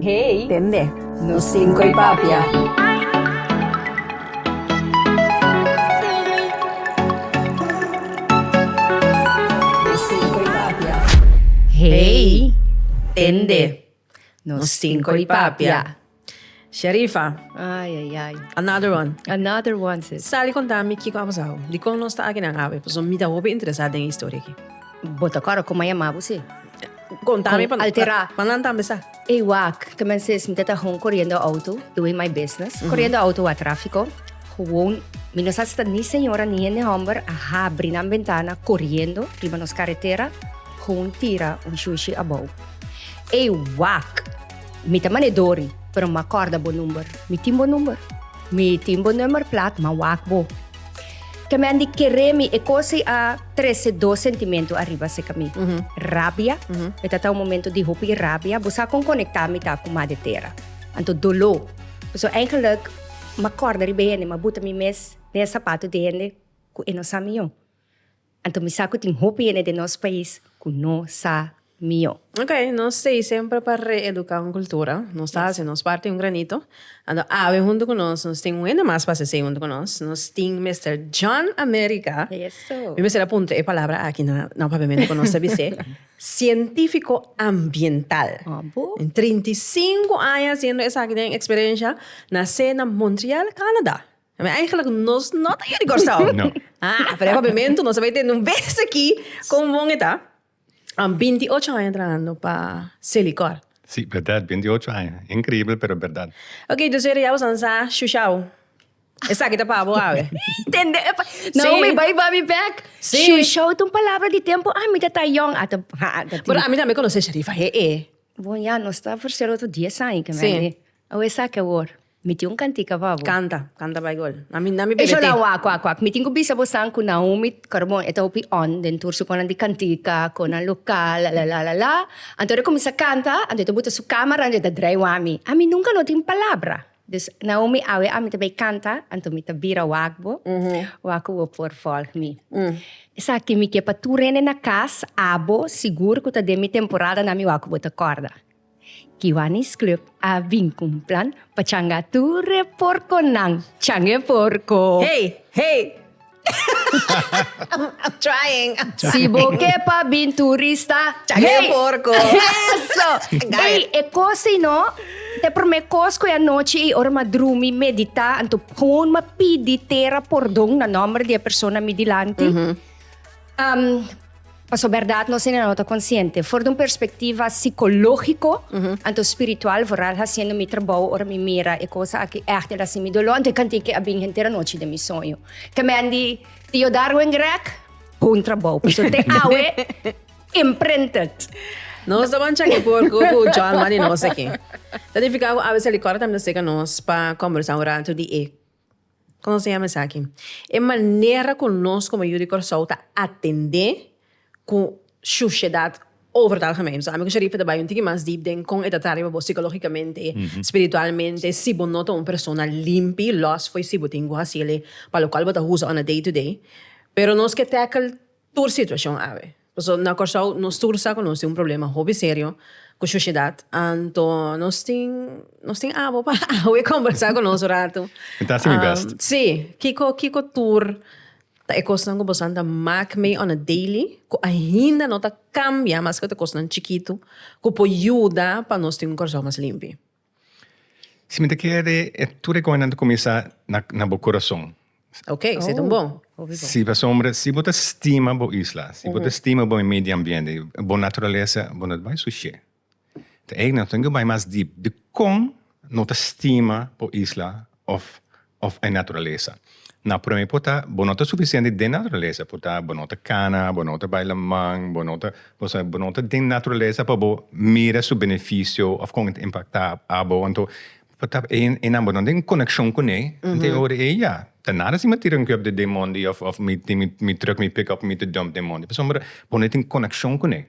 Hey. Tende. Nos tin koe papia. Hey. Tende. Nos tin koe papia. Sherifa. Ay ay ay. Another one. Another one sis. Sa di konta mi kiko a pasao. Dikon nos ta akinan awe. Paso mi ta hopi interesa den e historia aki. Bo ta kòrda kon maya mabu si. Konta mi pa altera. Pa nan tambe sa. E wak ke mester es mi te ta hon koriendo auto doing my business. Koriendo auto wak trafiko. Gewoon mi no sa si ta ni señora ni hende homber a habri nan bentana koriendo riba nos karetera gewoon tira un shushi abou. E wak mi ta manedori pero mi a korda bo number. Mi tin bo number. Mi tin bo numer plat mi a wak bo. Ke men di kere mi e kosi a trese dos sentimentu ariba seka mi. Rabia, e ta ta un momento di hopi rabia. Bo sa kon konekta mi ta ku Madre Tera. Anto doló. Paso einkelijk m'akorda riba hende, m'a buta mi mes den e sapatu di hende ku e no sa mi yo. Anto mi sa cu tin hopi hende den nos pais cu no sa mio. Ok, nos stay semper pa re-educa un cultura. Nos ta haci nos parti un granito. Anto awe hunto cu nos, nos tin un hende mas pa haci esey hunto cu nos. Nos tin Mister John America. Eso. Mi mester a puntra e palabra aki na nan papiamento cu nos ta bis'e. Cientifico ambiental. Abo. Den trinta i sinku aña haciendo esaki den experiencia. Nacé na Montreal, Canada. Ami eigenlijk nos no ta yu di Kòrsou. No. Ah, pero e papiamentu nos a bay tende un bes aki kon bon e ta. Am binti ocho aña trahando pa Selikor. Si, berdad, binti ocho aña. Inkribel, pero berdad. Ok, dus heren ya bo san sa shushao. Esaki ta pa bo awe. Tende e pa- Si. Naomi bay ba mi bek. Si. Shushao ta un palabra di tempo ami ta ta yòn. Ata ha a ta tin. Pero ami tambe konosé Sharifa he'e. Bon, ya nos ta ofreser otro dies aña, ke Si. mende. Awe esaki awor. Mi tin un cantica pa bo. Canta, canta bay gol. Na mi, na mi bebe tin. Hola wak wak wak mi tin cu bisa bo san cu Naomi Carbon e ta hopi on den tur su conan di cantica, conan local la la la la. Anto e cuminsa canta, anto e ta buta su camera anto e ta drai wami. Ami nunca no tin palabra. Dus Naomi awe ami ta bay canta, anto mi ta bira wak bo, wak cu bo por volg mi. Esaki mi ke pa tur hende na cas, abo, sigur cu ta den mi temporada na mi wak cu bo ta corda. Kiwanis Club a bin ku un plan pa changa tur e porkonan. Chang e porko! Hey! Hey! I'm trying! Si bo ke pa bin turista. Chang e porko! Eso! Ey, e kos ei no. Te promé kos ku e anochi ei ora mi a drumi, meditá, anto pon mi a pidi tera pordon na nòmber di e persona mi dilanti. Pasobra bèrdat nos hinanó ta konsiente. For di un perspektiva sikológiko, anto spiritual, vooral hasiendo mi trabou, ora mi mira e kosa akí ègt el hasi mi doló, anto e kantik'e a bini henter anochi den mi soño. Kemendi, Tio Darwin Grech, bon trabou, pasobra te awe imprinted. Nos ta mancha ki por ku John Mari nos aki. Ta nifiká ku abes el di kòrda tambe ta seka nos pa kòmbersá un ratu di e. Kon lo siña esaki? E manera ku nos komo yu di Kòrsou ta atendé ku shushedat over ta algemeen. Ami ku Sharifa ta bai un tiki mas deep den kon e ta traha riba bo sikologikamente, spiritualmente, si bo no ta un persona limpi, lòs fo'i si bo tin ku hasi elei pa lokual bo ta usa ora day to day. Pero nos ke tèkl. tur situacion awe. Paso na Corsou nos tur sa cu nos tin un problema hopi serio cu sociedad, anto nos tin nos tin abo pa awe conversa cu nos un rato. Mi ta haci mi best. Si, kico kico tur ta e cosnan cu boso a andan mak mee on a daily cu ainda no ta cambia, maske ta cosnan chikitu, cu por yuda pa nos tin un Corsou mas limpi? Si mi ta kere e tur recomendacion ta cuminsa na bo corazon. Ok, si ta un bon. Si pasobra si bo ta stima bo isla, si bo ta stima bo medio ambiente, bo naturalesa, bo no ta bay sushi. Ta eyk nan, bo ta bay mas deep. Dicon no ta stima bo isla of. òf e naturalesa. Na promé por ta bo no ta sufisiente den naturalesa, por ta bo no ta kana, bo no ta bai laman, bo no ta, bo sabi bo no ta den naturalesa pa bo mira su benefisio òf kon ta impaktá abo. Anto por ta e e nan bo no den konekshon kuné, anto e ora ei ya ta nada si mi a tira un kep den mondi òf òf mi tin mi mi truck mi pickup mi ta dump den mondi pasobra bo no e tin konekshon kuné.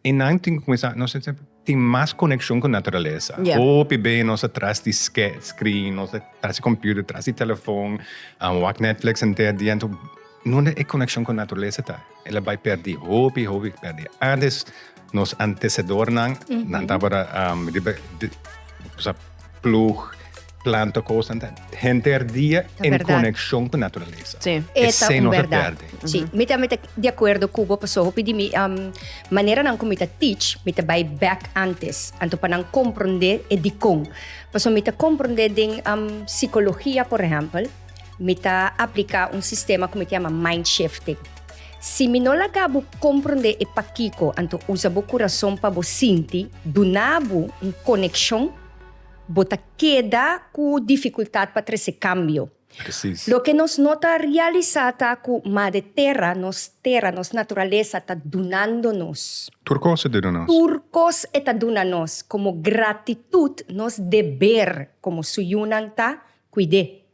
Einan tin ku kuminsá, nos tin tin mas konekshon ku naturalesa. Ya. Hopi bes nos ta tras di ske screen, nos ta tras di computer, tras di telefòn, a wak Netflix henter dia. Enton, nunde e konekshon ku naturalesa ta? El a bai pèrdí hopi, hopi pèrdí. Antes nos antesedornan, nan tabata riba, plug planta cosa ta henter dia en conexión cu naturaleza. Sí. Eta un verdad. Sí. Mi ta mi ta de acuerdo cubo paso hopi di mi um, manera nan mi ta teach, mi ta bay back antes, anto pa nan comprende e dicon. Paso mi ta comprende den um, psicología, por ejemplo, mi ta aplica un sistema que mi ta llama mind shifting. Si mi no laga bu comprende e paquico, anto usa bu corazón pa bu sinti, dunabu un conexión Bo ta keda ku difikultat pa trese kambio. Loke nos no ta realisá ta ku Mader Tera, nos tera, nos naturalesa ta dunando nos. Tur kos e ta duna nos. Tur kos e ta duna nos. Komo gratitut, nos deber komo su yunan ta kuid'é.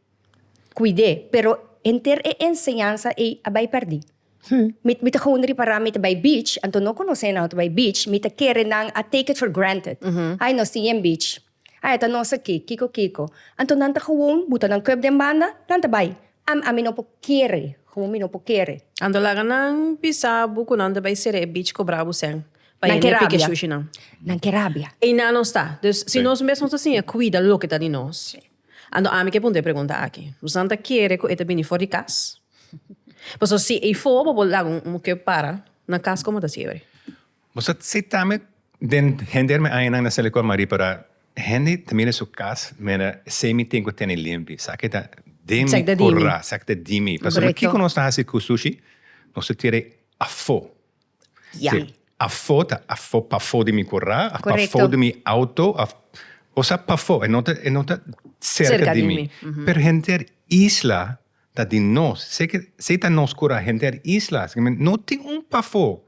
Kuid'é. Pero henter e enseñansa ei a bai pèrdí. Sí. Mi, mi ta gewoon ripará, mi ta bai beach, anto no konosé nan, ta bai beach, mi ta kere nan a take it for granted. Ai, nos tin yen beach. Ai, ta nos aki, kiko kiko. Anto nan ta gewoon buta nan kup den banda, nan ta bai. Am, ami no por kere, gewoon mi no por kere. Anto laga nan bisa bo ku nan ta bai sere e beach kobrá bo sen, pa Nan ke hende pike rabia. shushi nan. Nan ke rabia. Einan nos ta. Dus, si Sí. nos mes nos ta siña kuida loke ta di nos. Anto ami ke punta e pregunta aki. Busan ta kere ku e ta bini for di kas? Pasobra si ei for bo por laga un muke para na kas komo ta siebri. Bo sa sitame den hender mi añanan na Silikon Marie para hende ta mira su kas mira esei mi tin ku tene limpi sa ke ta den mi kura sa ke ta di mi pasobra kiko nos ta hasi ku sushi nos ta tira ei afo. Yami. Afó ta afó, pafó di mi kurá, a pafó di mi outo, a osea pafó, e no ta e no ta serka di mi. Pero henter isla ta di nos, si ke si ta nos kurá henter isla no tin un pafó.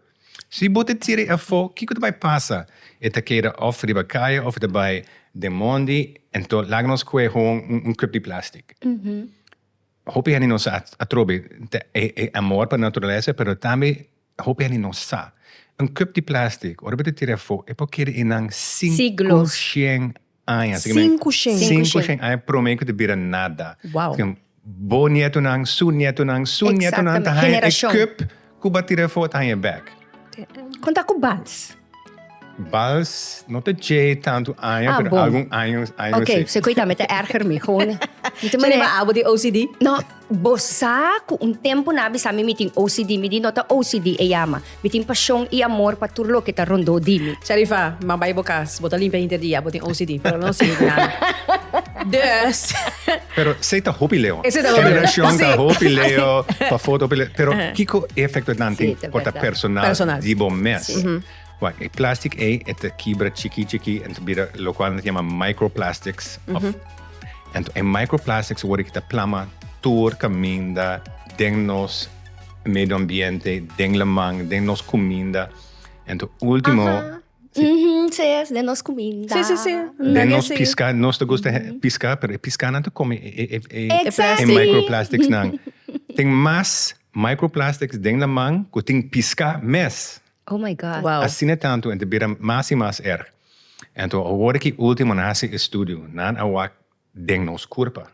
Si bo ta tira e afó kiko ta bai pasa? E ta keda òf riba kaya òf e ta bai den mondi, anto laga nos kohe un kup di plastik. Hopi hende no sa atrobe ta e amor pa naturalesa pero tambe hopi hende no sa un kup di plastic ora bo ta tira afo e por keda einan sinku shen aña sinku shen aña prome ku ta bira nada bo nietonan su nietonan su nietonan ta haña e kup Ku ba tira e fo e ta haña e bèk. Kon ta ku bals? Bals no ta djei tantu aña, pero algun año si. Ok, se koe ta mi ta èrger mi. Gone. Shirley, ma abo tin OCD? No, bo sa ku un tempu nan a bisa mi mi tin OCD. Mi di no ta OCD e yama. Mi tin pashon i amor pa tur loke ta rondó di mi. Sharifa, ma bai bo kas. Bo ta limpia hinter di abo tin OCD, pero lo no sibi di nada. Dus. Pero esei ta hopi leo. Esei ta hopi leo. Generacion ta hopi leo, pa foto hopi leo. Pero kico efecto e nan tin por ta personal di bo mes? Wak, e plastic ei e ta kibra chiki chiki en ta bira locual nan ta yama microplastics. Anto e microplastics wor ei ta plama tur caminda den nos medio ambiente, den laman, den nos cuminda. Anto ultimo. Mhm, sí, den nos cuminda. Sí, sí, sí. Den Dagi nos así. pisca, nos te gusta he- pisca, pero e piscanan te come e, e, e, e, e Exactly. microplastics nan. Tin mas microplastics den laman cu tin pisca mes. Oh my God. Wow. Asina tanto, en te bira mas y mas erg. Ento, awor aki ultimo nan hasi estudio, nan a wak den nos curpa.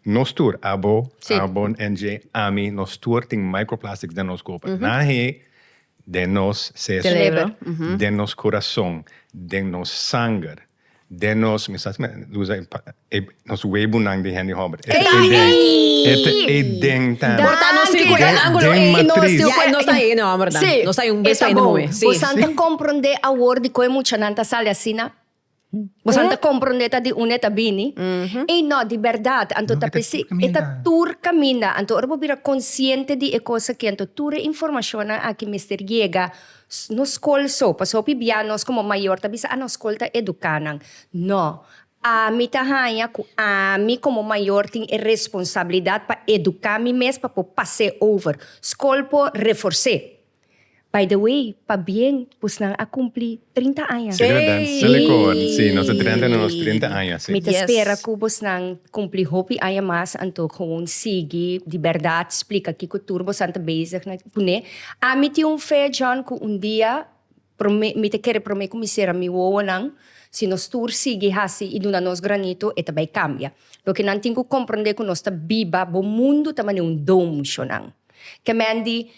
Nos tur, abo, abo, NJ, ami, nos tur tin microplastics den nos kopa. Na he den nos seso, den nos kurason, den nos sanger, den nos, mi sa si mi a usa e, e, nos webunan di hende hòmber. E ta den. E ta e den tambe. Por ta nos sirkul den angulo ei no esti un kuen nos ta hende hòmbernan. Nos ta un bes pa hende muhe. Si. Boso a ta komprondé awor dikon e muchanan ta sali asina? Boso ta comprende ta di une ta bini y no di berdad anto ta pesi e ta tur caminda anto ora bo bira consciente di e cos aki anto tur e informacionnan aki mester yega nos school so pasobra hopi bia nos como mayor ta bisa ah nos school ta educa nan no ami ta haya cu ami como mayor tin e responsabilidad pa educa mi mes pa por pase over school por reforse. By the way, pa bien pusnan a cumpli trinta aña. Sí, verdad. Sí. Melicoor. Sí, nos ta drenta na nos trinta aña, sí. Mi ta Yes. spera cu bosnan cumpli hopi aña mas, anto gewoon sigui di berdad splica kico tur bosnan ta bezig na pone. Ami tin un fe, John, cu un dia Prome, mi ta kere prome kuminsera mi wowonan, si nos tur sigui hasi i duna nos granito, e ta bai kambia. Loke nan tin ku komprondé ku nos ta biba bo mundu ta manera un domsho nan. Kèmen di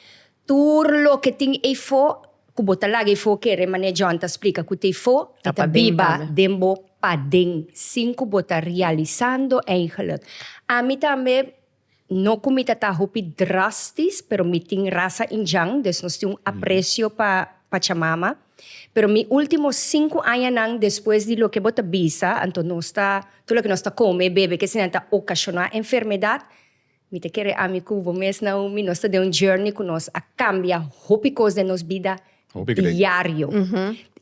tur loke tin eifo, ku bo ta laga eifo kere, manera John ta splika ku ta eifo, e ta biba den bo paden, sin ku bo ta realisando eigenlijk. Ami tambe. No ku mi ta ta hopi drastis, pero mi tin rasa Indian, des nos tin un apresio pa Pachamama. Pero mi ultimo sinku añanan despues di loke bo ta bisa, anto nos ta, tur loke nos ta kome, bebe, kesinan ta okashoná enfermedat, mi ta kere ami ku bo mes, Naomi, nos ta den un journey ku nos a kambia hopi kos den nos bida diario.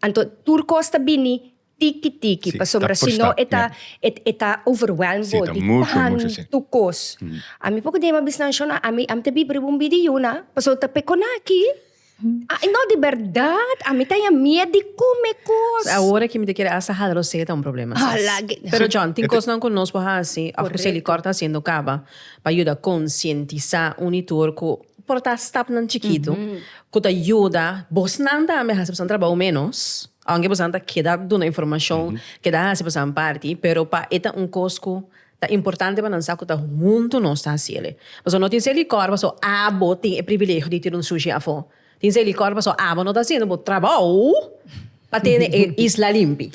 Anto tur kos ta bini tiki tiki pasobra si no e ta e ta overwhelm bo di tantu kos. Ami por dema bisnan Shona ami ta biba riba un bidi yuna pasobra ta pe konaki no di berdad ami ta haña miet di kume kos. Awor aki mi ta kere asta hala rosé ta un problema sas. Pero John tin kosnan ku nos por hasi òf ku Selikor ta hasiendo kaba pa yuda konsientisá un i tur ku por ta stapnan chikitu ku ta yuda bosnan tambe hasi pasobra nan trabou ménos. Aunke boso nan ta keda duna informashon, keda hasi bosonan parti, pero pa e ta un kos ku ta importante pa nan sa ku ta huntu nos ta hasi el. Pasobra no tin ser likor paso abo tin e privilegio di tene un sushi afó. Tin ser likor paso abo no ta haciendo bo trabou pa tene e isla limpi.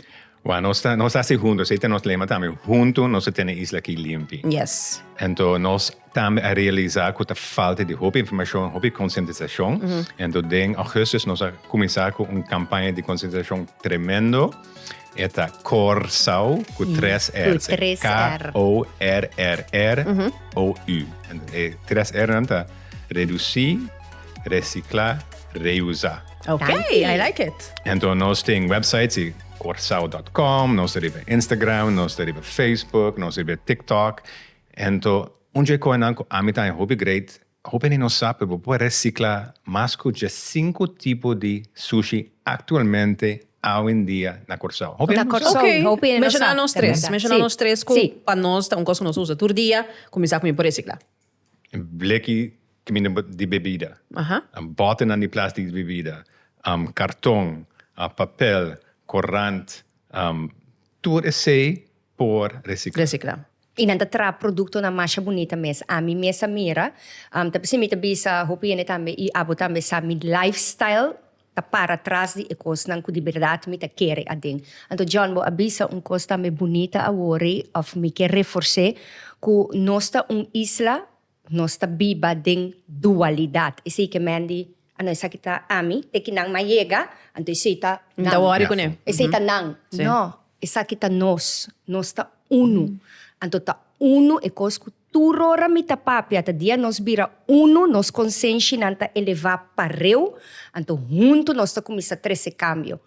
Wou, nos ta hasi huntu, esei ta nos lema tambe, huntu nos ta tene e isla aki limpi. Yes. Anto nos. tambe a realisá ku ta falta di hopi informashon, hopi konsientisashon. Anto den Augustus nos a kuminsá ku un kampaña di konsientisashon tremendo, e ta Kòr Sou ku tres r's, K-O-R-R-R-O-U. E tres r'nan ta redusí, resiklá, reusá. Ok, I like it. Anto nos tin website, si korsou dòt kòm, nos ta riba Instagram, nos ta riba Facebook, nos ta riba TikTok, Anto, un dje koenan ku ami ta e hopi great, hopi hende no sa, pero bo por resikla mas ku dje sinku tipo di sushi aktualmente awendia na Kòrsou. Hopi hende no sa. Ok, menshoná nos tres, menshoná nos tres ku pa nos ta un kos ku nos usa tur dia ku mi sa ku mi por resikla. Bleki di bebida, bòtenan di plastik di bebida, karton, papel, korant, tur esei por recicla. Recicla. Y nan ta traha producto nan masha bunita mes. Ami mes a mira, ta p'esei mi ta bisa hopi hende tambe y abo tambe sa mi lifestyle ta para tras di e cosnan cu di berdad mi ta kere aden. Anto John bo a bisa un cos tambe bunita awor ey of mi ke reforce cu nos ta un isla Nos ta biba den dualidad. Esei ke men di, a no esaki ta ami, te ki nan mas yega, anto esei ta nan. Ta wòri kuné. Esei ta nan. No, esaki ta nos. Nos ta unu. Anto ta unu e kos ku tur ora mi ta papia ta dia nos bira unu, nos konsenshinan ta elevá pareu, anto huntu nos ta kuminsá trese kambio.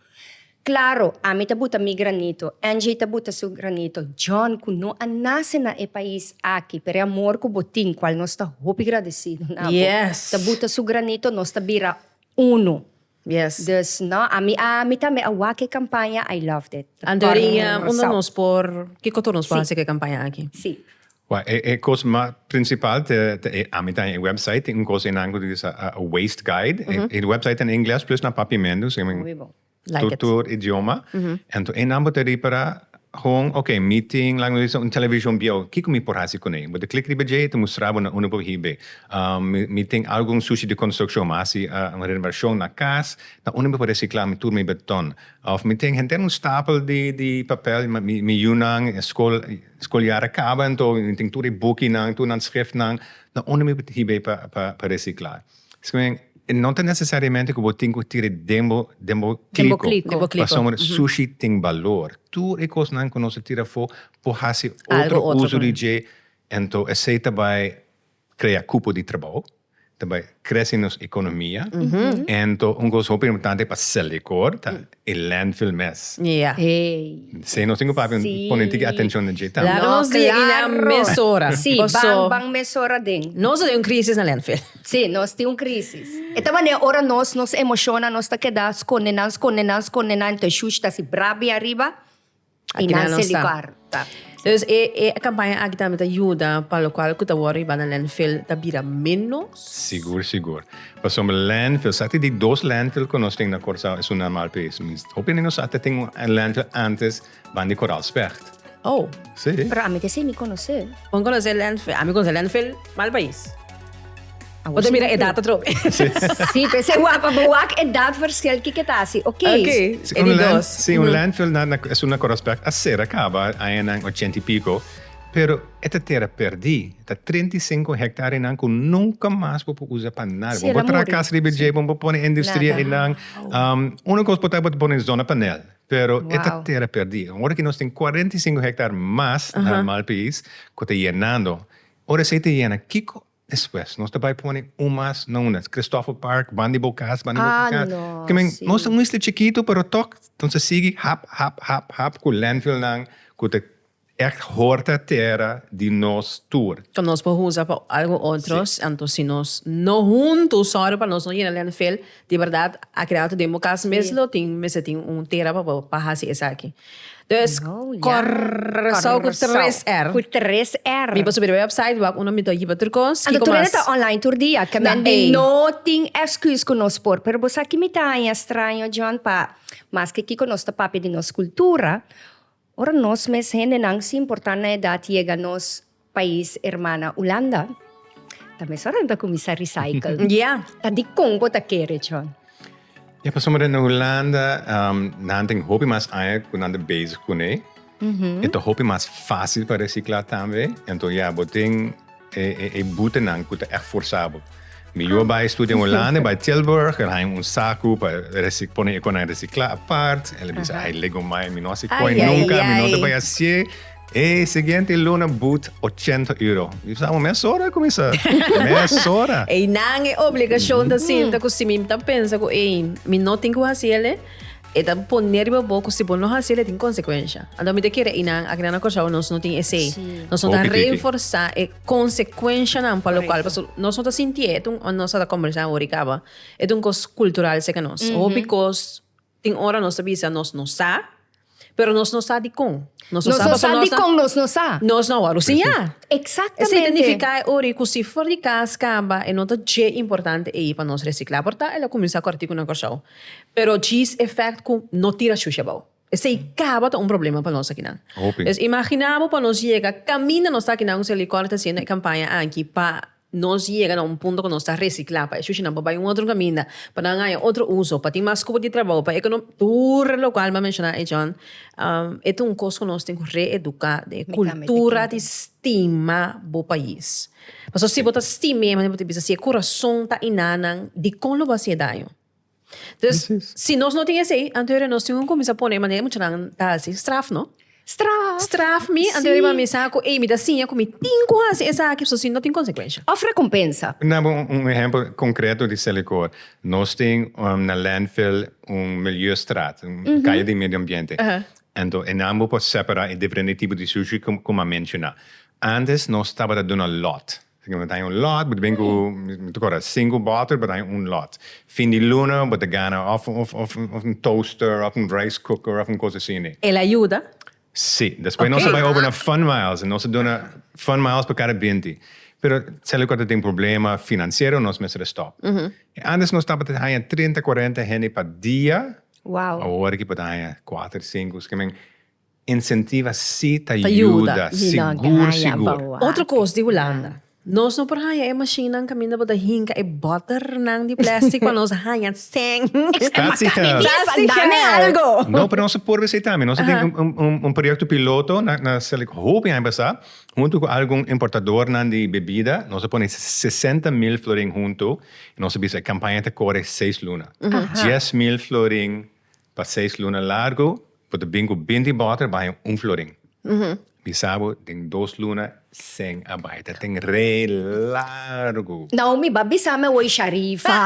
Claro, ami ta buta mi granito, Angie ta buta su granito, John cu no a nace na e pais aki, pero e amor cu bo tin, cual nos ta hopi gradecido na bo, Yes. ta buta su granito, nos ta bira uno. Yes. Dus no, ami a ami tambe a wak e campaña, I loved it. Ta Andorinha, tornan unda nos Rosao. por, kico tur nos por Sí. haci cu e campaña aki? Sí. Wak, e e cos mas principal ta ta e ami ta e website tin un cos einan cu ta di sa a a waste guide. E e website ta na Ingles plus na Papiamento, so I mean, Muy bon. Like it. Tur tur idioma. Anto einan bo ta ripara hon ok meeting laga nos bisa un television bieu kiko mi por hasi kuné. Bo ta klik riba dje e ta mustra bo na unda bo hibe. Mi mi tin algu un sushi di konstrukshon mi a hasi un renovashon na kas na unda mi por resikla mi tur mi beton òf mi tin henter un stapel di di papel mi yunan skol skol yar a kaba anto mi tin tur e bukinan tur nan skrifnan na unda mi hibe pa pa resikla. Esaki no ta necesariamente cu bo tin cu tiri den bo clico, pasobra sushi tin balor. Tur e cosnan cu nos a tira afo por haci otro uso di dje, ento esey ta bay crea cupo di trabao, ta bay crece nos economia, ento un cos hopi importante pa Selekor ta E landfill mes. Ja. Sey nos tin ku papia pone tiki atencion den dje tambe. Laga nos di ina mesora. Sí, ban ban mesora den. Nos ta den un crisis na landfill. Sí, nos tin un crisis. E ta manera ora nos nos emociona nos ta keda sconde nan, sconde nan, sconde nan, entonces shush ta haci brabia ariba. I nan seli kòr. Dus e kampaña aki tambe ta yuda pa lokual ku ta wòrdu riba na lèndfil ta bira ménos? Sigur, sigur. Pasobra lèndfil, sa ta di dos lèndfil ku nos tin na Kòrsou es un normal pes. Mi hopi di nos sa ta tin un lèndfil ántes ban di Koraalspregt. Oh. Sí. Pero ami ta esei mi konosé. Bo konosé lèndfil? Ami konosé lèndfil mal pais. Bo ta mira edat atrobe. Sí, pe se wak, pa bo wak edat verschil kiko ta haci, ok. Ok, e di dos. Sí, un landfill na es un aspect a cera caba añanan ochenta y pico, pero e ta tera perdi, ta treinta y cinco hectarianan cu nunca mas bo por usa pa nada. Sí, el a muri. Bo por traha casa riba dje, bo por pone industria einan. Uno cos por ta bo ta pone zona panel, pero e ta tera perdi. Ora cu nos tin cuarenta y cinco hectare mas na Malpais cu ta yenando, ora esey ta yena, kiko Despues nos ta bai pone un mas na una, Christopher Park, ban di bo cas, ban di bo ah, cas. No, que men, sí. Nos un isla chiquito, pero toch, entonces sigui hap, hap, hap, hap, cu landfill nan, cu te echt horta terra di nos tour. Que nos por usa pa algo otros, sí. entonces si nos no hunto, sorry pa nos no yena landfill, Di berdad a keda atu den bo cas mes lo tin mester tin un tera pa bo pa haci esaki. Dus Corsou cu tres R. Cu tres R. Mi por subi den website wak uno mi ta hiba tur cos. Anto tur ene ta online tur dia ta men di no tin excus cu nos por. Pero bo sa kico mi ta haña straño John pa maske kico nos ta papia di nos cultura. Ora nos mes hendenan sin importa nan edad yega nos pais hermana Hulanda, ta mesora nan ta cuminsa recycle. Ya. Ta dicon bo ta kere, John? Ya, pasobra den Hulanda nan tin hopi mas aña cu nan ta bezig cune. E ta hopi mas facil pa recicla tambe. Enton ya, bo tin. E butenan cu ta echt forzabel. Mi yua bai studia in Holanda, bai Tilburg, el haña un sacu pa pone e conan recicla apart. El a bisa, ay lego mai, mi no a haci coin nunca, mi no ta bai hacié. E siguiente luna but ochenta euro. Mi bisa, amo mesora a cuminsá, mesora. Eynan e obligacion ta sinta cu si mi ta pensa cu ey, mi no tin cu haci el'e, E ta pone riba bo ku si bo no hasi el e tin konsekuensha. Anto mi ta kere i nan, aki nan a kosha bo nos no tin esei. Nos no ta Hopi tiki. reforsá e konsekuenshanan pa lokual Korekto. pasobra nos no ta sinti e tun ora nos a ta kòmbersá wor i kaba. E ta un kos kultural seka nos. Hopi kos tin ora nos ta bisa nos no sa, pero nos no sa dikon. Nos no sa pasobra nos a. dikon nos no sa. Nos no a wòrdu siñá. Esei Eksaktamente. ta nifiká e ora i ku si for di kas kaba e no ta dje importante ei pa nos resiklá. Por ta el a kuminsá kòrtiku nan kòrsou. Pero cheese effect cu no tira shushi abao. Esey caba ta un problema pa nos akinan. Hopi. Pues imagina bo pa nos yega caminda nos ta akinan cu Selicor ta haciendo e campaña aki pa nos yega na un punto cu nos ta recicla pa e shushinan por bai un otro caminda, pa nan haya otro uso, pa tin mas cupo di trabao, pa econo. Tur lo cual bo a menciona ahí John, e ta un cos cu nos tin cu reeduca den e cultura di stima bo pais. Pasobra si bo ta stim mi, manera bo ta bisa, si e kurason ta iná nan, dikon lo bo a hasi e daño? Entonces, si nos no tin esei, anto ariba nos tin ku kuminsá pone manera muchanan ta hasi straf, no? Straf. Straf mi, anto ariba mi sa ku, ey, mi ta siña ku mi tin ku hasi esaki, pasobra si no tin konsekuensha. Òf rekompensa. Por daba un ehèmpel konkreto di Selekor. Nos tin na Landfill un miliustrat, un kaya di medio ambiente. Anto, e nan bo por separá e diferente tipo di sushi ku mi a menshoná. Antes nos tabata duna lot. Así ke bo ta haña un lot, bo ta bini ku, mi ta kòrda, sinku bòter, bo ta haña un lot. Fin di luna bo ta gana òf, òf, òf un toaster, òf un rice cooker, òf un kos asini. El a yuda? Sí. Despues nos a bai over na Fun Miles, nos a duna Fun Miles pa kada binti. Pero seli kua ta tin problema finansiero nos mester a stòp. Antes nos tabata haña trinta, kuarenta hende pa dia, aworakibo ta haña kuater, sinku, así ke men. Incentiva si ta yuda, sigur sigur. Otro cos di Hulanda. Nos no por haya e machinan caminda bo ta hinca e botternan di plastic pa nos haya seng. Statiger. Dame algo. No, pero nos a por visita mi. Nos a tin un proyecto piloto na Silicon. Hopi aña pasa hunto cu algun importadornan di bebida nos a pone sesenta mil florin hunto y nos a bisa e campaña ta core seis luna. Dies mil florin Pa seis luna largu bo ta bin ku binti bòter baño un florin. Mi sa bo den dos luna sen a bai. Ta ten re largu. Naomi ba bisami awor Sharifa.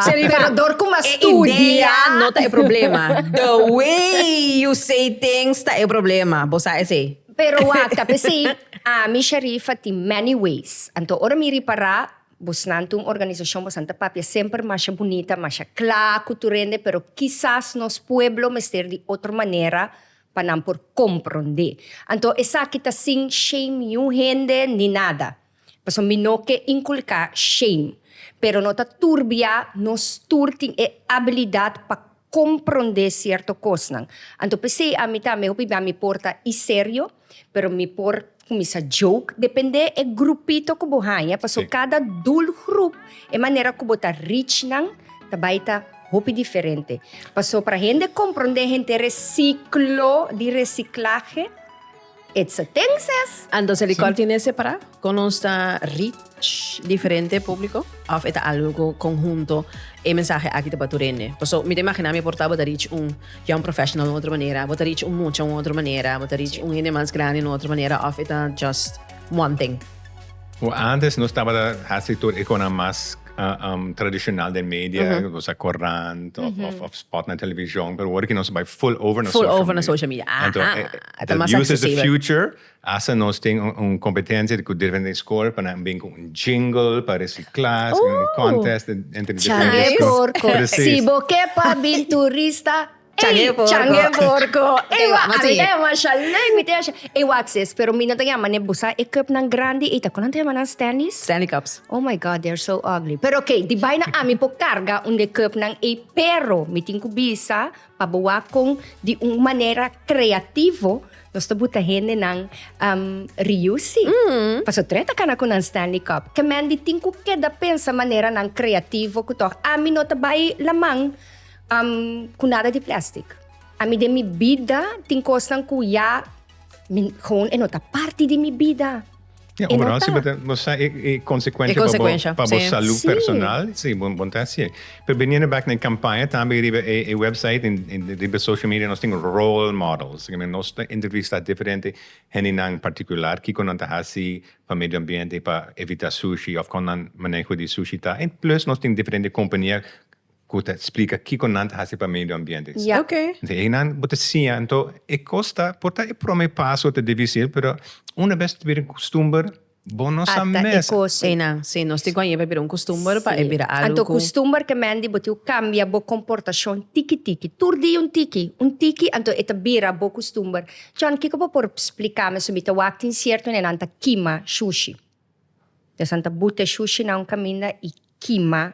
Sharifa ta dor kuma studia. E idea no ta e problema. The way you say things ta e problema. Bo sa esei. Pero wak, ta p'esei ami Sharifa tin many ways. Anto ora mi ripara. Bosnan ta un organisashon, bosnan ta papia semper masha bunita, masha kla ku tur hende, pero kisas nos pueblo mester di otro manera pa nan por komprondé. Anto esaki ta sin shame niun hende ni nada, pasobra mi no ke inkulká shame, pero no ta tur bia nos tur tin e abilidat pa komprondé sierto kosnan. Anto p'esei ami tambe hopi bia mi por ta i serio, Pero mi por cuminsa joke depende e grupito cu bo haya, paso cada doel groep e manera cu bo ta reach nan ta bay ta hopi diferente. Paso para hende comprende hende reciclo di reciclahe it's a things es. Anto Celicol tin e separa con nos ta reach. diferente públiko òf e ta algu ku konhunto e mensahe aki ta bato rende? Paso mi ta imaginá mi por ta bo ta rich un young professional un otro manera, bo ta rich un mucha un otro manera, bo ta rich un hende mas grandi un otro manera òf e ta just one thing? Bo ántes nos tabata hasi tur e konan mas tradishonal den media, nos a korant òf spòt na televishon, pero wor aki nos bai full over na sóshal media. Ful over na sóshal media. Ahaa. Use is de future. Hasta nos tin un competencia cu diferente school pa nan bin cu un jingle pa reciclas y un contest entre diferente school. Chang'e porco. Si bo ke pa bin turista, ey, chang'e porco. Ey wak a mi ta yama sha leuk, mi ta yama sha. Ey wak sis, pero mi no ta yama ne busa e cupnan grandi ey ta con nan ta yama nan Stanley's? Stanley cups. Oh my God, they are so ugly. Pero ok, di baina ami por carga un de cupnan ey pero mi tin cu bisa Pa boa con di un manera creativo nos ta buta hende nan um, riusi. Mm. Paso tre ta cana cu nan Stanley Cup. Que men di tin cu keda pensa manera nan creativo cu toch a mi no ta bai la man um, cu nada di plastic. A mi den mi bida tin cosnan cu ya mi, gewoon e no ta parti di mi bida. Ya, Y no operasio ta. beter bo sa e, e consecuencia E pa bo, consecuencia, pa bo sí. salud Sí. personal, sí, bon, bon ta hacier. Pero biniendo back na e campaña tambe riba e, e website en, en riba social media nos tin role models, esaki men nos ta entrevista diferente hendenan particular kico nan ta haci pa medio ambiente, pa evita sushi of con nan maneho di sushi ta en plus nos tin diferente compania. Cu ta splica kico nan ta haci pa medio ambiente. Ya. Ok. Enton e eynan bo ta siña. Enton e cos ta por ta e prome paso ta dificil, pero una vez ta bira un custumber bo no sa mes. Ata e cos eynan. Si, nos tin cu a lleva e bira un custumber pa e bira algo cu. Anto custumber ke men di bo tin cu cambia bo comportacion tiki tiki. Tur dia un tiki, un tiki, anto e ta bira bo custumber. John, kico bo por splica mi su mi ta wak tin cierto nenan ta kima shushi. Esnan ta buta e shushinan un caminda y kima.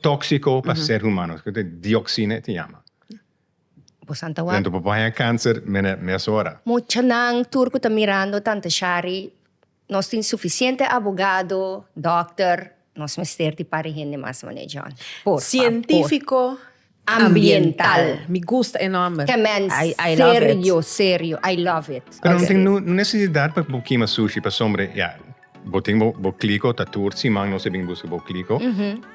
tóksiko pa ser humano, dioksina e ta yama. Entonces por paña kanser mesora. Muchanan tur ku ta mirando Tante Shari, nos tin sufisiente abogado, dòkter, nos mester di pari hende mas manera John, por favor. Sientífiko Ambiental. Mi gusta e nomber. Ta men serio serio I love it. Pero no tin necesidad pa bo kima sushi pasobra ya bo tin bo kliko ta tur siman nos a bin buska bo kliko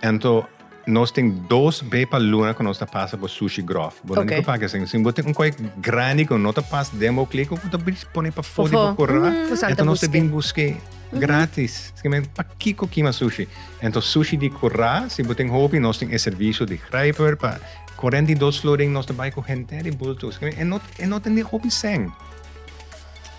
anto nos tin dos be pa luna cu nos ta pasa bo sushi grof bo no tin cu paga esey si bo tin un koe grandi cu no ta pas den bo kliko bo ta bris pone pafo di bo corra anto nos ta bin buske. Gratis. Esaki men pa kiko kima sushi? Entos sushi di kura, si bo tin hopi nos tin e servisio di grijper pa korènt i dos florin nos ta bai ku henter di bultu. Esaki men e no e no tende hopi sèn.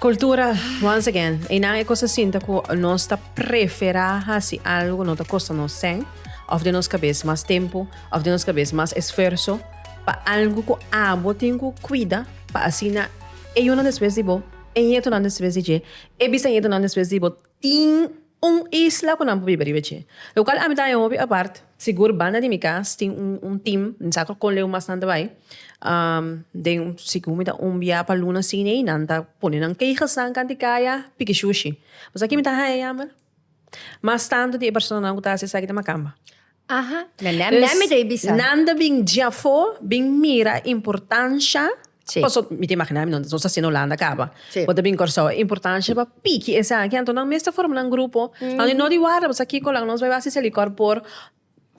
Kultura, once again, einan e kos a sinta ku nos ta preferá hasi algu ku no ta kosta nos sèn òf den nos kabes mas tempu òf den nos kabes mas esfuerso pa algu ku abo tin ku kuida pa asina e yunan despues di bo e ñetonan despues di dje E bisa ñetunan despues di bo tin un isla ku nan por biba riba dje. Locual ami ta e hopi apart, sigur banda di mi cas tin un team, mi sa con leu mas nan ta bai, den sigur mi ta un bia pa luna cine y nan ta pone nan kegelsan canti caya piki shushi. Pues aki mi ta haya yamber mas tanto di e personanan cu ta haci esaki ta macamba. Aha. Dus nan ta bin djafó bin mira importansha, paso mi ta imaginá mi nos ta siña Holanda kaba, bo ta bin Kòrsou, importansha pa piki esaki, anto nan mes ta forma nan grupo, anto no di warda pasobra kikola nos bai basi sali kòr por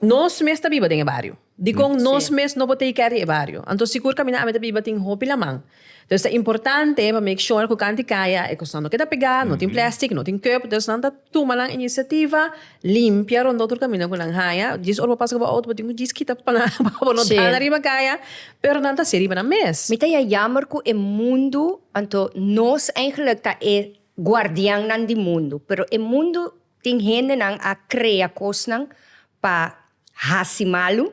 nos mes ta biba den e bario, dikon nos mes no por take care di e bario, anto sigur kaminda ami ta biba tin hopi laman. Dus ta importante pa make sure ku kanti kaya e kosnan no keda pegá, no tin plèstik, no tin kòp, dus nan ta tuma nan inisiativa limpia rondó tur kaminda ku nan haña. Djis ora bo pasa ku bo outo bo tin ku djis kita pa nan pa bo no dana riba kaya, pero nan ta hasié riba nan mes. Mi ta ya yammer ku e mundu, anto nos eigenlik ta e guardiannan di mundu, pero e mundu tin hendenan a krea kosnan pa. Hasi malu,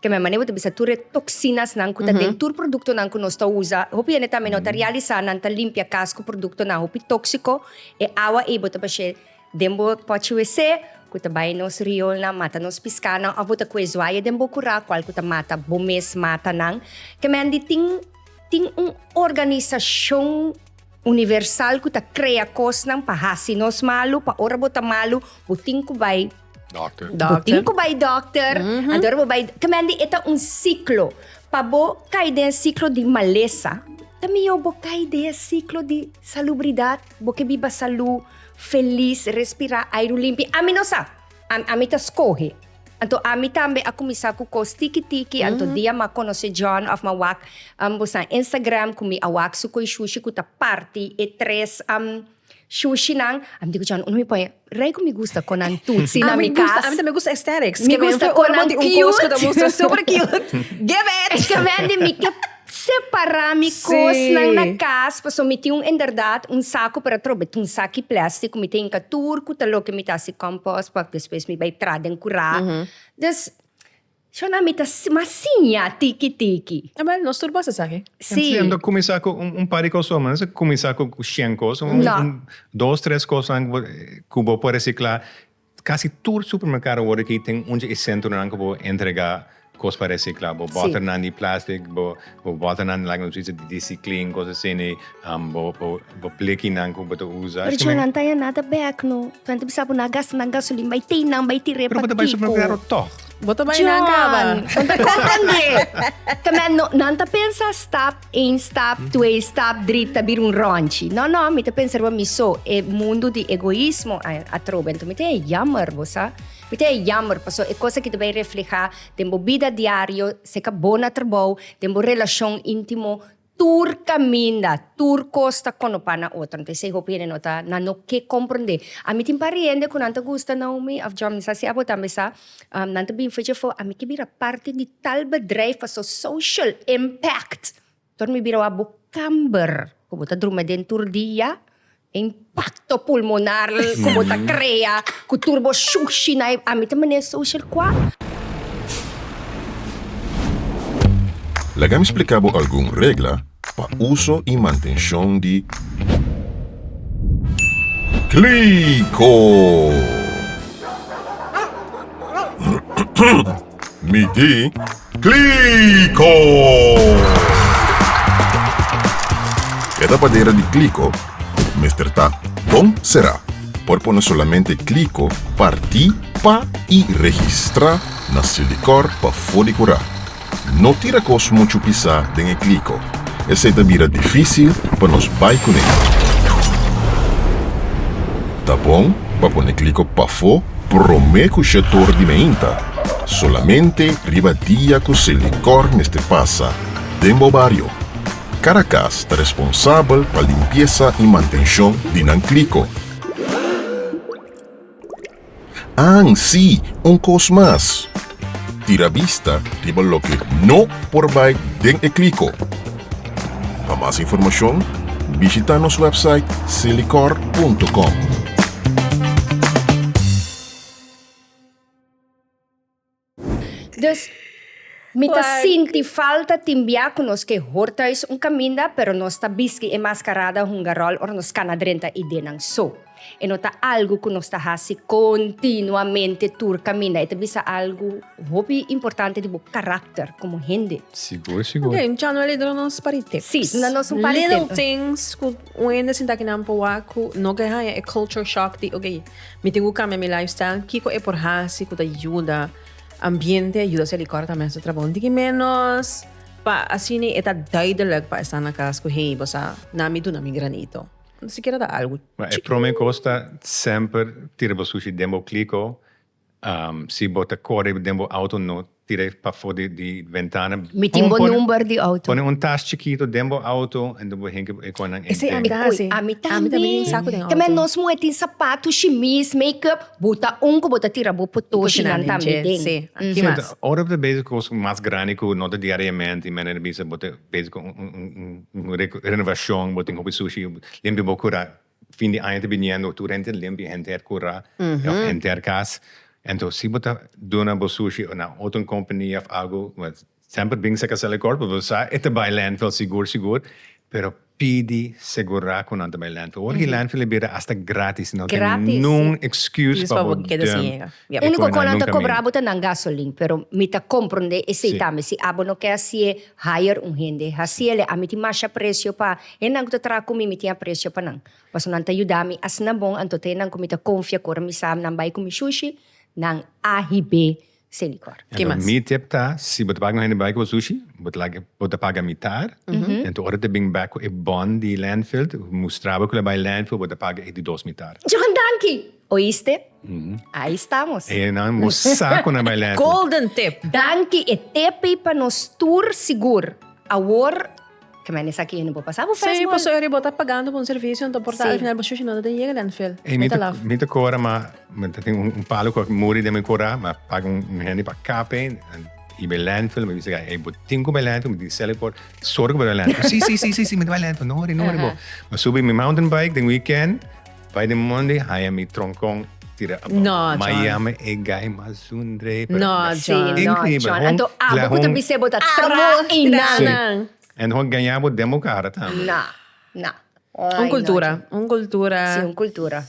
keme manera bo ta bisa tur e toxinasnan ku ta den tur produktonan ku nos ta usa, hopi hende tambe no ta realisá nan ta limpia kas ku produktonan hopi tóksiko, e awa ei bo ta bash'é den bo pòchi WC ku ta bai nos riolnan, mata nos piskanan òf bo ta kue zuaye den bo kurá kual ku ta mata bo mes mata nan, kemen di tin tin un organisashon universal ku ta krea kosnan pa hasi nos malu, pa ora bo ta malu bo tin ku bai. Dokter. Bo tin ku bai dokter. Antora bo bai. Ke mende e ta un siklo. Pa bo kai den e siklo di malesa, ta mihó bo kai den e siklo di salubridat. Bo ke biba salú, felis, respirá airu limpi. Ami no sa. Am, ami ta skohe. Anto ami tambe a kuminsá ku kos tiki tiki. Anto dia m'a konosé John òf m'a wak, bo sa, Instagram ku mi a wak su koishushi ku ta parti e tres, am. Shushi nan, a mi ta cucha un pon rey cu mi gusta con nan tutsi na mi cas. A mi ta me gusta aesthetics. Mi gusta con nan cute. Super cute. Give it. Ta wendi mi ke separa mi cosnan na cas pasobra mi tin un inderdaad un saco pero atrobe tin un saki plastic cu mi ta hinca tur cu ta loke mi ta haci compost pa despues mi bay tra den cura. Dus. Shona mi ta mas siña tiki tiki. Abel nos tur pasa esaki. Si. Si anto cuminsa cu un par di cosonan no esaki cuminsa cu shen cos un No. dos tres cosonan cu bo por recicla casi tur supermercado awor aki tin un dje e centronan cu bo entrega cos pa recicla bo Si. boternan di plastic bo Bo bota nan like nos bichi di diciclean cos asina y bo bo bleki nan cu bo ta usa. Pero chon nan ta ya nada back no nan ta bisa bo na gasta nan gasolin bay tey nan bay tira e patico. Pero bo ta bay su propio carro toch. Bo ta bay nan caba. Chon nan ta comprende caminda no nan ta pensa stap een stap twee stap dri ta bira un ronchi no no mi ta pensa riba mi so e mundo di egoismo atrobe enton mi ta ya jammer bo sa mi ta ya jammer paso e cosa aki ta bay refleha. Den bo bida diario, seca bo na trabou, den bo relacion intimo, tur caminda, tur cos ta con opa na otro. Anto esey hopi hende no ta, nan no ke comprende. A mi tin pari hende cu nan ta gusta Naomi of John, mi sa si abo tambe sa, nan ta bin fecha for, a mi ke bira parti di tal bedrijf pasobra social impact. Tor mi bira wak bo kamber ku bo ta drumi aden tur dia, e impakto pulmonar ku bo ta krea ku tur bo shushi na e. A mi ta manera social kua. Laga mi spliká bo algun regla pa uso i mantenshon di. Kliko! Mi di, Kliko! E ta padera di Kliko mester ta bon será. Por pone solamente Kliko partí pa i registrá na Silicor pa for di kurá. No tira kos muchu pisá den e Kliko, esei ta bira difísil pa nos bai kuné. Ta bon? pa pone kliko pafó promé ku Shetor di Meinta, solamente riba dia ku se likòr mester pasa den bo bario. Kada kas ta responsabel pa limpiesa i mantenshon di nan kliko. An, sí, un kos mas. Tira bista riba loke no por bai den e kliko. Pa mas informashon, bishita nos wèpsait silicor punto com. Dus, mi ta sinti falta tin bia ku nos ke hor tùis un kaminda, pero nos ta biski e maskarada hungaròl ora nos kana drenta idenan. So. E no ta algu ku nos ta hasi kontinuamente tur kaminda. E ta bisa algu hopi importante di bo karakter komo hende. Sigur, sigur. Ok, dja no a lidera nos pa rete. Sí, nos ta nos un par di tempu. Little things ku un hende sinta aki nan por wak ku no ke haña e culture shock di ok, mi tin ku kambia mi lifestyle. Kiko e por hasi ku ta yuda ambiente, yuda se likor ta mester trabaha un tiki ménos pa asina e ta duidelijk pa e sta na kas ku hey bo sa nan mi duna mi granito. Bo sikiera ta algu chikiu. E prome kos ta semper tira bo sushi den bo kliko. Si bo ta kore den bo auto no tira e pafo di ventana. Mi tin bo number di auto. Pone un tas chikito den bo auto enta bo hen e konan enten. Esei ami ta hasi. Ui, ami tambe. Ami tambe tin saku den auto. Tambe nos muhe tin sapato, shimis, make up. Bo ta un ku bo ta tira bo potoshi nan tambe den. Ki mas? Ora bo ta bezig kos mas grandi ku no ta diariamente i men a bisa bo ta Bezi cu un renovacion bo tin hopi sushi limpi bo cura. Fin di aña ta biniendo tur henter limpi henter cura of henter cas. Enton si bo ta duna bo sushi na otro un compania of algo semper bin sa cazal e cor pasobra bo sa e ta bay landfill sigur sigur pero pidi segura cu nan ta bay landfill. Ora ki landfill a bira asta gratis no tin ningún excuse pa bo duna. Ya, úniko kon nan ta kobrá bo ta nan gasolin, pero mi ta komprondé esei tambe. Si abo no ke hasié, hire un hende hasiéle. Ami tin masha apresio pa hennan ku ta traha ku mi, mi tin apresio pa nan, pasobra nan ta yuda mi asina bon. Anto ta hennan ku mi ta konfia, ku ora mi sa nan bai ku mi shushi, nan a hib'é sin likòr. Ki mas? Mi tip ta, si bo ta paga un hende pa bai ku bo shushi, bo ta laga, bo ta paga mitar. Anto ora ta bin bèk ku e bòn di lèndfilt, mustrá bo ku el a bai lèndfilt, bo ta paga e di dos mitar. Johan, danki! Oíste? Ahí estamos. E nan bo sa cu nan bay lente. Golden tip. Danki e tepi pa nos tur sigur. Awor, ke men esaki yendo bo pasa bo fes mol. Sí, paso eri bo ta pagando pa un servicio anto por ta al final bo shushi no ta den yega landfill. Ey mi ta mi ta cora ma mi ta tin un palo cu a muri den mi cora ma paga un hende pa cape y bay landfill mi bisa ey bo tin cu bay landfill mi tin cel por sorgo bay landfill. Sí sí sí sí mi ta bay landfill no ori no ori bo. Mi subi mi mountain bike den weekend. Bai den Monday haya mi tronkon tira abou. No John. Miami e guy mas zundre. No John. Sí, no John. Anto abo cu ta bisebo ta trahi nan. En hon gaña bo den bo cara tambe. No, no. Un cultura, un cultura. Sí, un cultura.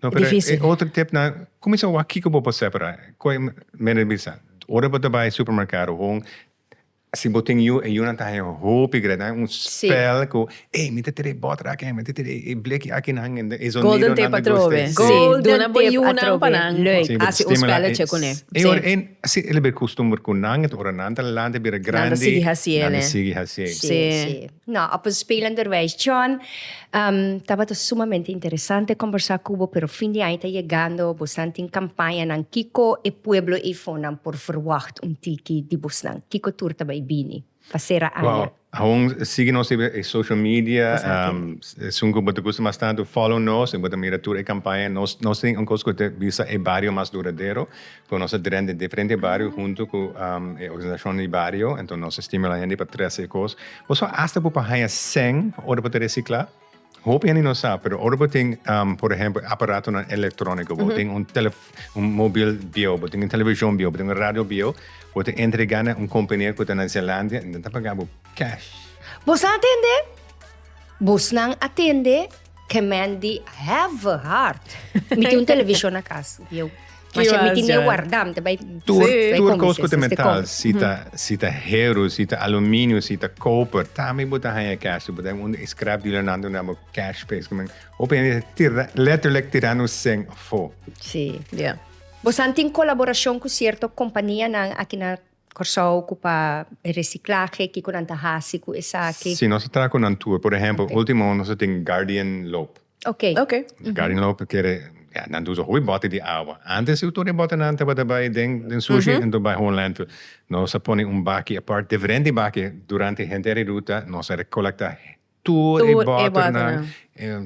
No pero e otro tip nan cuminsa a wak kico bo por separa. Cu e mene bisa ora bo ta bai supermercado hon. Si bo tin yu, e yunan ta haya hopi grandi. Nan un spel ku, Ey, mi ta tira e bòt aki, mi ta tira e bleki aki na nan. E zonidonan ta gusta esei. Golden tape atrobe. Si, duna bo e yunan pa nan. Leuk. Hasi un spèlètje ku ne. E ora e, si el a bira kustumber ku nan, ora nan ta lanta, e bira grandi. Nan ta sigui hasié. Nan ta sigui hasié. Si. No, op een spelen derwijs. John, tabata sumamente interesante conversa cu bo, pero fin di aña ta yegando, bosnan tin campañanan, kico e pueblo Eifonan por verwacht un tiki di bosnan? Kico tur ta bay bini pa cera aña? Wow, awon sigui nos riba e social media, esun cu bo ta gusta mas tanto, follow nos y bo ta mira tur e campaña. Nos tin un cos cu ta bisa e bario mas duradero, Cu nos a drenta den diferente bario hunto cu e organisacionnan di bario. Enton nos a stimula hende pa trece e cos. Boso hasta bo por haya cen ora bo ta recicla. Hopi hende no sa, pero ora bo tin por ehempel aparatonan electronico, bo tin un un mobil bieuw, bo tin un television bieuw, bo tin un radio bieuw, bo ta entrega na un compania cu ta na Zelandia y nan ta paga bo cash. Bo sa tende? Bosnan a tende Ke men di have hard. Mi tin un televishon na kas. Yo. Ki Masha mi was, tin e ja. warda, mi ta bai Tur, Bai tur komes kos ku ta esnan te metal, komes. si ta, si ta heru, si ta aluminio, si ta koper, tambe bo ta haña cash. Bo ta haña un scrap dealer nan duna bo cash pa es ku men. Hopi hende ta tira, letterlijk tira nos seng afo. Si. Ja. Bosan tin kolaborashon ku sierto kompanianan aki na Kòrsou ku pa e resiklahe, kiko nan ta hasi ku esaki? Si, nos a traha ku nan tur. Por ehèmpel, último año nos a tin Guardian Loop. Oke. Oke. Guardian Loop kere, ya, nan ta usa hopi bòte di awa. Ántes si tur e bòtenan tabata bai den den sushi ento bai hopi lèndfil. Nos a pone un baki apart, diferente baki, durante henter e ruta nos a rekolektá. Tur e bòternan,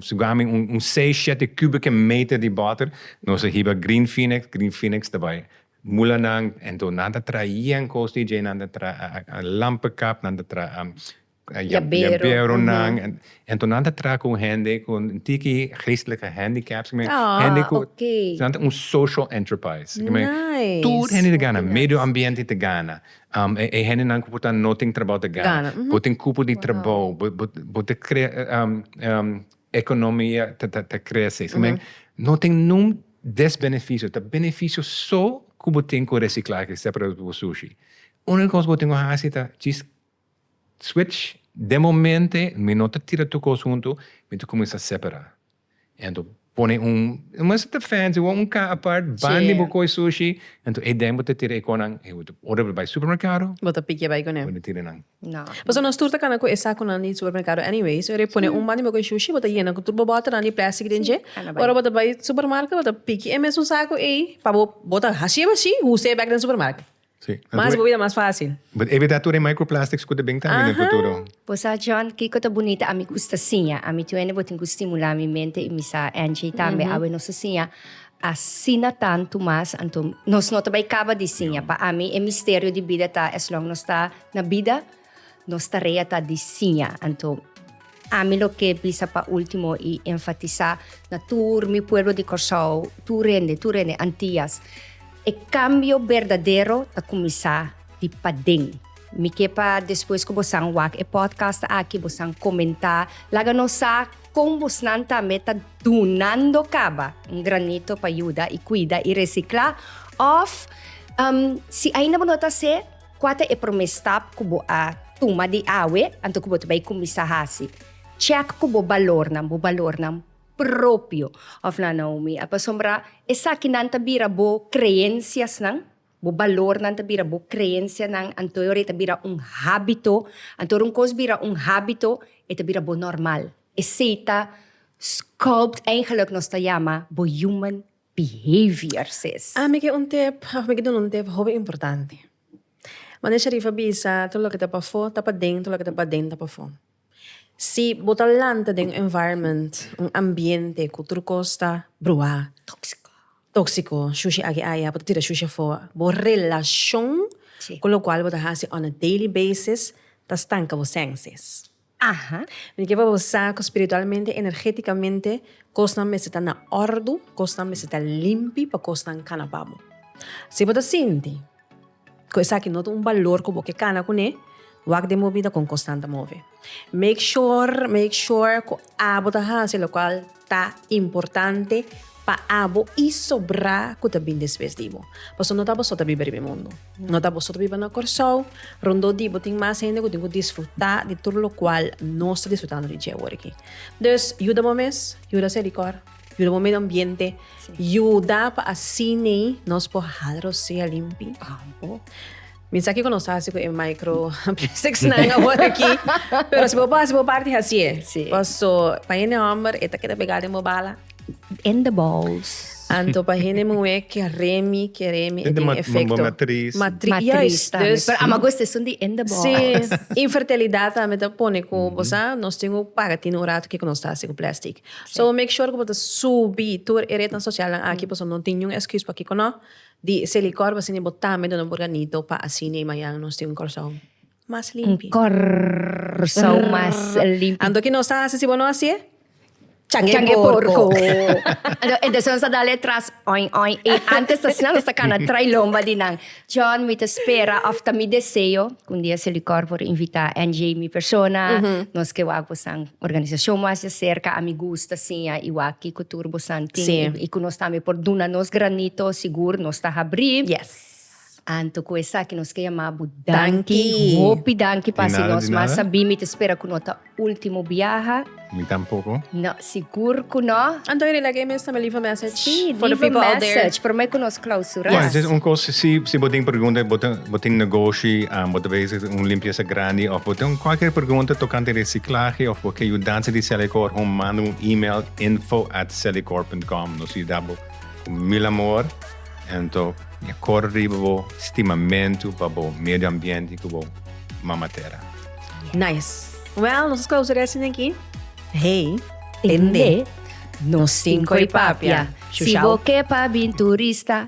sugami un seis, shete kùbike meter di bòter, nos a hiba Green Phoenix, Green Phoenix ta bai mula nan, enton nan ta traha yen kos di dje, nan ta traha lampekap, nan ta traha yaberonan, enton nan ta traha ku hende ku tiki geestelike handicaps, hende ku nan ta un social enterprise, tur hende ta gana, medio ambiente ta gana, E hendenan ku bo ta no tin trabou ta gana. Bo tin kupu di trabou. Bo ta krea ekonomia ta krese. No tin nungun desbenefisio. Ta benefisio so ku bo tin ku resiklahe separado di bo sushi. Uniko kos ku bo tin ku hasi ta djis switch den momente mi no ta tira tur kos huntu mi ta kuminsá separá. Entu pone un, e mester ta fancy wou, un ka apart ban di bo koi sushi, entu ei den bo ta tira e konan, ora bo bai supermerkado, bo ta pikia bai kuné, bo ta tira nan. Pasobra nos tur ta kana ku e sakunan di supermerkado anyways, ora e pone un ban di bo koi sushi, bo ta yena ku tur bo bòtonan di plastic den dje, ora bo ta bai supermarke bo ta pikia e mesun saku ei, pa bo, bo ta hasieba si, huse bek den supermarke. Sí. Mas bo bida mas fácil. But evitá tur e microplastics ku ta bin tambe den futuro. Bo sa John kiko ta bunita ami gusta siña. Ami tin wende bo tin ku stimulá mi mente i mi sa Angie tambe awe nos ta siña asina tantu mas anto nos no ta bai kaba di siña. Pa ami e misterio di bida ta as long nos ta na bida. Nos tarea ta di siña. Anto, ami lo ke bisa pa último i enfatisá na tur mi pueblo di Kòrsou, tur hende, tur hende, Antias, e kambio berdadero ta kuminsá di paden. Mi ke pa despues ku bosan wak e podcast aki, bosan komentá, laga nos sa kon bosnan tambe ta dunando kaba un granito pa yuda i kuida i resiklá òf si ainda bo no ta hasi e. Kua ta e promé stap ku bo a tuma di awe anto ku bo ta bai kuminsá hasi chèk ku bo balornan, bo balornan propio? Òf nan, Naomi, a pasobra esakinan ta bira bo kreensiasnan, bo balornan ta bira bo kreensianan, anto e ora e ta bira un hábito. Anto ora un kos bira un hábito, e ta bira bo normal. Esei ta sculpt, eigenlik nos ta yama bo human behavior sis. Ami ke un tip of mi ke duna un tip hopi importante mane sheriff a bisa todo loke ta pafo ta paden todo loke ta paden ta pafo si bo ta lanta den un environment un ambiente ku tur kos ta bruha toxico shushi aki aya bo ta tira shushi afo bo relashon ku lokual bo ta hasi on a daily basis ta stanka bo sènsis. Aha. Mi ta kier pa bo sa ku spiritualmente, energétikamente, kosnan mester ta na òrdu, kosnan mester ta limpi pa kosnan kana pa bo. Si bo ta sinti ku esaki no ta un balor ku bo ke kana kuné, wak den bo bida kon kosnan ta move. Make sure, make sure ku abo ta hasi lokual. Ta importante pa abo i sobrá ku ta bin despues di bo. Pasobra no ta boso ta biba riba e mundu. No ta boso ta biba na Kòrsou. Rondó di bo tin mas hende ku tin ku disfrutá di tur lokual nos ta disfrutando di dje wòrdu aki. Dus, yuda bo mes, yuda se rikòr, yuda bo medio ambiente, yuda pa asina nos por hal rosea limpi. Mi sa kico nos haci cu e micro plastics nan awor aki, pero si bo por haci bo parti, haci e. Sí. Paso pa hende homber e ta keda pegá den bo bala. In the balls. Anto pa hende muhé ke remi, ke remi, e tin e efecto. Bo matriz. Matri, Matris juist. tambe. Dus, Pero ama gusta esun di in the balls. sí, infertilidad tambe ta pone cu, bo sa, nos tin cu paga tin un rato kico nos ta haci cu plastic. Sí. So make sure cu bo ta subi tur e rednan socialnan aki, paso no tin niun excus pakico no. Di se likor bo sini bo tambe duna bo organito pa asini mañan nos tin un corsou mas limpi. Un corsou mas limpi. Anto ki nos ta hasi si bo no hasi'e? Chang'e e porco. Entonces nos a dal'e tras oi oi i antes ta snel nos ta cana trai lomba di nan. John mi ta spera of ta mi deseo cu un dia se likor por invita NJ mi persona nos ke wak bosan. Organisacion mas dje cerca ami gusta siña y wak kico tur bo san tin y cu nos tambe por duna nos granito sigur nos ta habri. Anto cu esaki nos ke yama bo danki hopi danki pa haci nos mas sabí mi ta spera cu no ta ultimo biaha. Mi tampoco. No sigur cu no. Anto Henry like e mes tambe leave a message for the people out there. Sí leave a message prome cu nos clausura. Bueno entonces un cos si bo tin pregunta bo ta. Bo tin negoshi, bo ta bezig den un limpiesa grandi of bo tin cualkier pregunta tocante reciclahe of bo ke yudansa di Celicor hoon manda un email info at celicor punt com nos yuda bo cu mil amor ento mi a cora riba bo stimamento pa bo medio ambiente cu bo mama tera. Nice. Well nos a close reci den aki. Hey. Tende. Nos tin coy papia. Shushau. Si bo ke pa bin turista.